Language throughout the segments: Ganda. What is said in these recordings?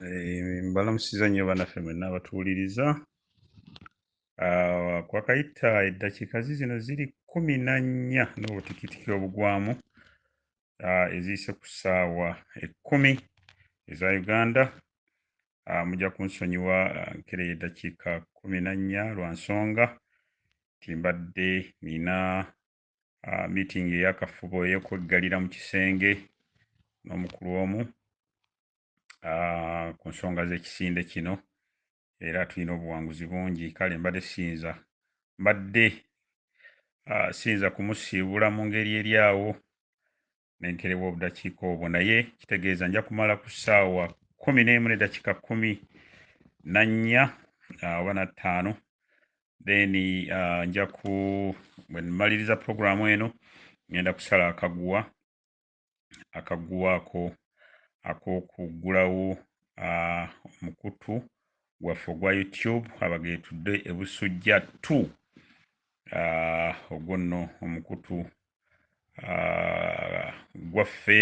Eh, mbalamusiza nnyo banaffe mwenna abatuwuliriza ah, kwakayita eddakiika zizino ziri kumi na nnya n'obutikitiki obugwamu ah, eziyise ku ssaawa ekkumi eza uganda ah, mujja kunsonyiwa nkereyo eddakiika kumi na nnya lwa nsonga ti mbadde nina miitingi eyakafubo eyokweggalira mu kisenge n'omukulu omu ku nsonga z'ekisinde kino era tulina obuwanguzi bungi kale mbadde siyinza mbadde siyinza kumusiibula mu ngeri eri awo nenkerewa obudakiika obwo naye kitegeeza nja kumala ku ssaawa kumi n'emu nedakiika kumi na nnya oba na ttaano then uh, nja ku bwe mmaliriza pulogulaamu eno ngenda kusala akaguwa akaguwa ako ak'okuggulawo omukutu gwaffe ogwa youtube abagetudde ebusujja t ogwo nno omukutu gwaffe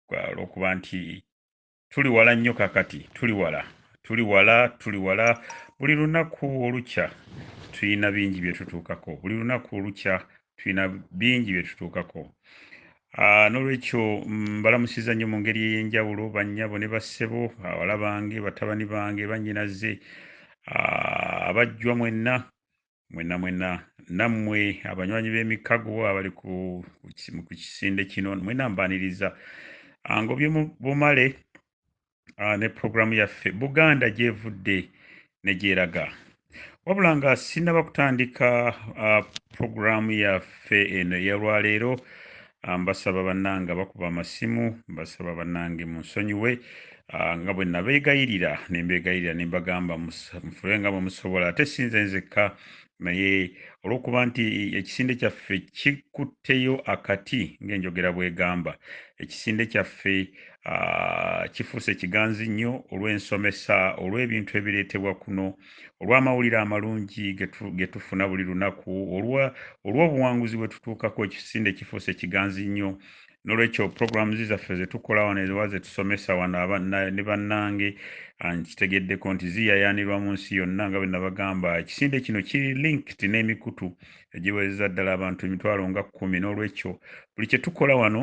olwokuba nti tuli wala nnyo kakati tuli wala tuli wala tuli wala buli lunaku olukya tulina bingi bye tutuukako buli lunaku olukya tulina bingi bye tutuukako ah, n'olwekyo mbalamusiza nnyo mu ngeri ey'enjawulo bannyabo ne bassebo bawala bange batabani bange bannyinaze ah, abajjwa mwenna mwena mwena nammwe abanywanyi b'emikago abali ku kisinde kino mwena mbaniriza ah, ngobye bumale ah, ne puroguramu yaffe buganda gyevudde negyeraga wabula nga sinaba kutandika ah, puroguramu yaffe eno eyalwaleero Ah, mbasaba bannange abakuba amasimu mbasaba bannange munsonyiwe ah, nga bwe nabeegayirira ne mbeegayirira ne mbagamba mufube nga bwe musobola ate si nze nzekka naye olw'okuba nti ekisinde kyaffe kikutteyo akati ng'enjogera bw'egamba ekisinde kyaffe ah, kifuuse kiganzi nnyo olw'ensomesa olw'ebintu ebireetebwa kuno olw'amawulire amalungi ge tufuna buli lunaku olw'obuwanguzi bwe tutuukako ekisinde kifuuse kiganzi nnyo nolwekyo programu zaffe zetukola wano ewa zetusomesa wano ne bannange ah, nkitegeddeko nti ziyayaanirwa mu nsi yonna nga bwe nabagamba ekisinde kino kiri linked n'emikutu egiweereza ddala abantu emitwalo nga kkumi n'olwekyo buli kye tukola wano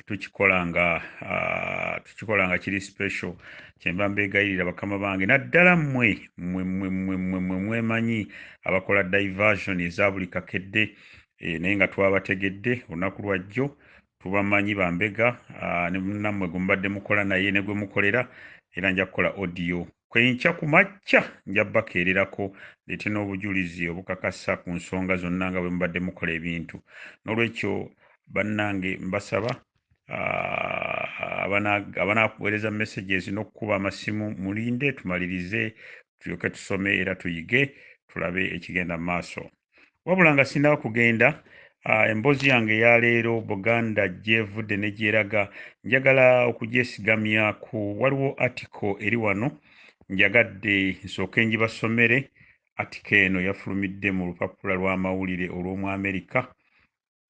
tukikola nga uh, tukikola nga kiri special kyemba mbegayirira bakama bange naddala mmwe mmwe mmwe mmwe mmwe mmwe mwemanyi abakola diversion eza buli kakedde e, naye nga twabategedde olunaku lwajjo tubamanyi bambega uh, nammwe gwe mubadde mukola naye ne gwe mukolera era nja kukola audio Ku enkya ku makya nja bakeererako ndeete n'obujulizi obukakasa ku nsonga zonna nga bwe mubadde mukola ebintu. N'olwekyo bannange mbasaba abanaakuweereza messages n'okukuba amasimu mulinde tumalirize tulyoke tusome era tuyige tulabe ekigenda mu maaso. Wabula nga sinaba kugenda uh, emboozi yange eya leero Buganda gyevudde ne gyeraga njagala okugyesigamyaku. Waliwo article eri wano njagadde nsooke njibasomere. Article eno yafulumidde mu lupapula lw'amawulire olw'omu Amerika.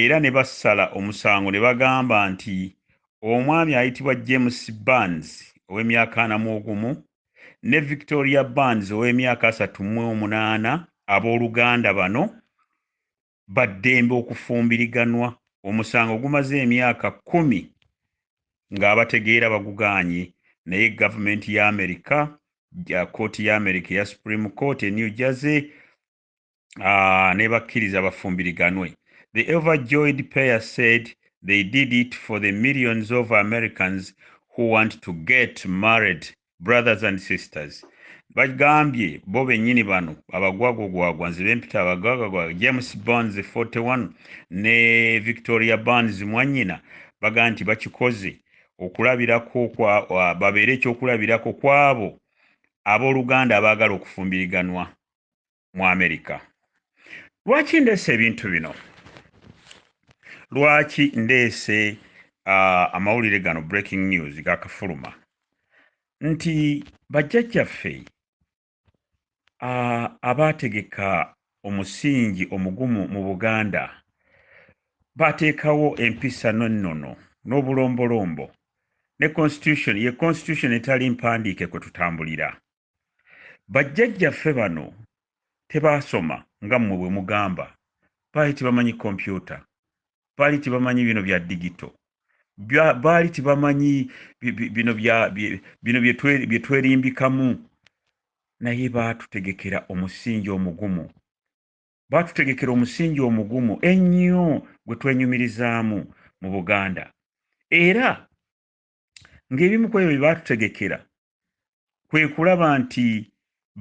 era ne basala omusango ne bagamba nti omwami ayitibwa James Barnes ow'emyaka ana mu ogumu ne Victoria Barnes ow'emyaka asatu mu omunaana abooluganda bano ba ddembe okufumbiriganwa omusango gumaze emyaka kkumi ng'abategeera bagugaanye naye gavumenti ya Amerika kkooti ya Amerika eya Supreme Court e New Jersey uh, nebakkiriza bafumbiriganwe the overjoyed pair said they did it for the millions of americans who want to get married brothers and sisters bagambye bo bennyini bano abagwagwagwagwa nze bempita abagwagwagwa james bonds 41 ne victoria bonds mwanyina baga nti bakikoze okulabirako babeere ekyokulabirako kwabo abooluganda abaagala okufumbiriganwa mu amerika lwaki ndeese ebintu bino lwaki ndeese uh, amawulire gano breaking news gakafuluma nti bajjajjaffe uh, abaategeka omusingi omugumu mu buganda baateekawo empisa n'ennono n'obulombolombo ne constitution ye constitution etali mpandiike kwe tutambulira Bajjajjaffe bano tebaasoma nga mmwe bwe mugamba. Baali tebamanyi kompyuta, baali tebamanyi bino bya digito, baali tebamanyi bino bye twerimbikamu, naye baatutegekera omusingi omugumu. Baatutegekera omusingi omugumu ennyo gwe twenyumirizaamu mu Buganda. Era ng'ebimu ku ebyo bye baatutegekera kwe kulaba nti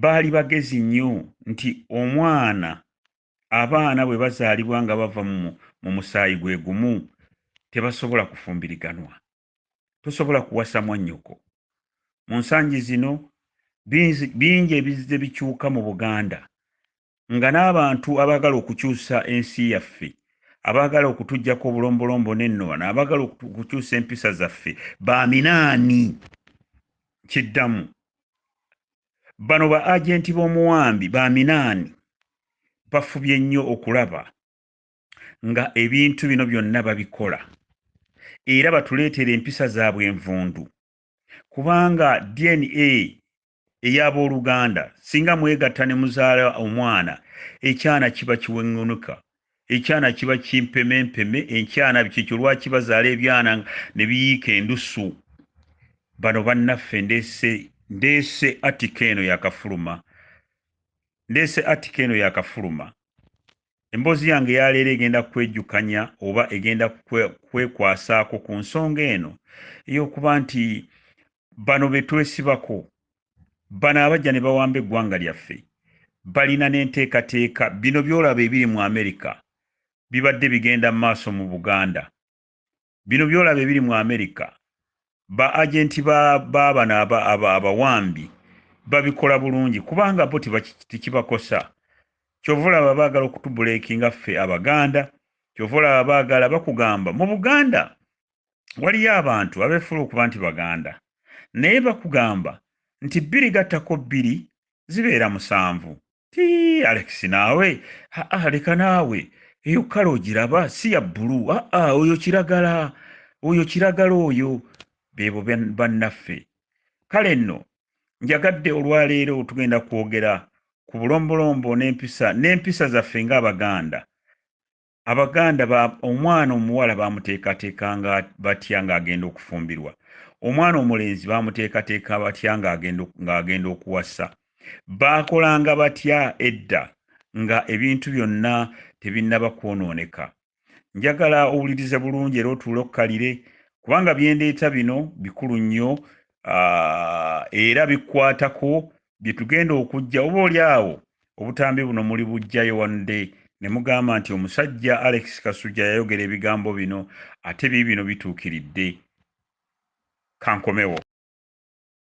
baali bagezi nnyo nti omwana abaana bwe bazaalibwa nga bava mu musaayi gwe gumu tebasobola kufumbiriganwa tosobola kuwasa mwannyoko mu nsangi zino bingi ebizze bikyuka mu buganda nga n'abantu abaagala okukyusa ensi yaffe abaagala okutuggyako obulombolombo n'ennowana abaagala okukyusa empisa zaffe baaminaani kiddamu bano ba agenti b'omuwambi baaminaani bafubye nnyo okulaba nga ebintu bino byonna babikola era batuleetera empisa zaabwe envundu kubanga dna ey'abooluganda singa mwegatta ne muzaala omwana ekyana kiba kiweŋŋunuka ekyana kiba kimpemempeme enkyana kyekyo lwaki bazaala ebyana ne biyiika endusu bano bannaffe ndeese ndeese atika eno yakafuluma ndeese atika eno yakafuluma emboozi yange yaleero egenda kwejukanya oba egenda kwekwasaako ku nsonga eno ey'okuba nti bano betwesibako bano abajja ne bawamba eggwanga lyaffe balina n'enteekateeka bino byolaba ebiri mu amerika bibadde bigenda mu maaso mu buganda bino byolaba ebiri mu amerika ba agenti babano abawambi babikola bulungi kubanga bo tekibakosa kyova olaba baagala okutubuleekinga ffe abaganda kyova olaba baagala bakugamba mu buganda waliyo abantu abefuula okuba nti baganda naye bakugamba nti bbiri gattako bbiri zibeera musanvu ti alex naawe aa leka naawe eyo kale ogiraba si ya bbulu aa oyo kiragala oyo kiragala oyo beebo bannaffe kale nno njagadde olwaleero tugenda kwogera ku bulombolombo n'empisa n'empisa zaffe ng'abaganda abaganda ba omwana omuwala bamuteekateeka nga batya ng'agenda okufumbirwa omwana omulenzi bamuteekateeka batya ng'agenda okuwasa baakolanga batya edda nga ebintu byonna tebinnaba kwonooneka njagala owulirize bulungi era otuule okukalire kubanga byendeeta bino bikulu nnyo era bikwatako bye tugenda okujja oba oli awo obutambi buno muli bujjayo one day ne mugamba nti omusajja alex kasujja yayogera ebigambo bino ate biibino bituukiridde kankomewo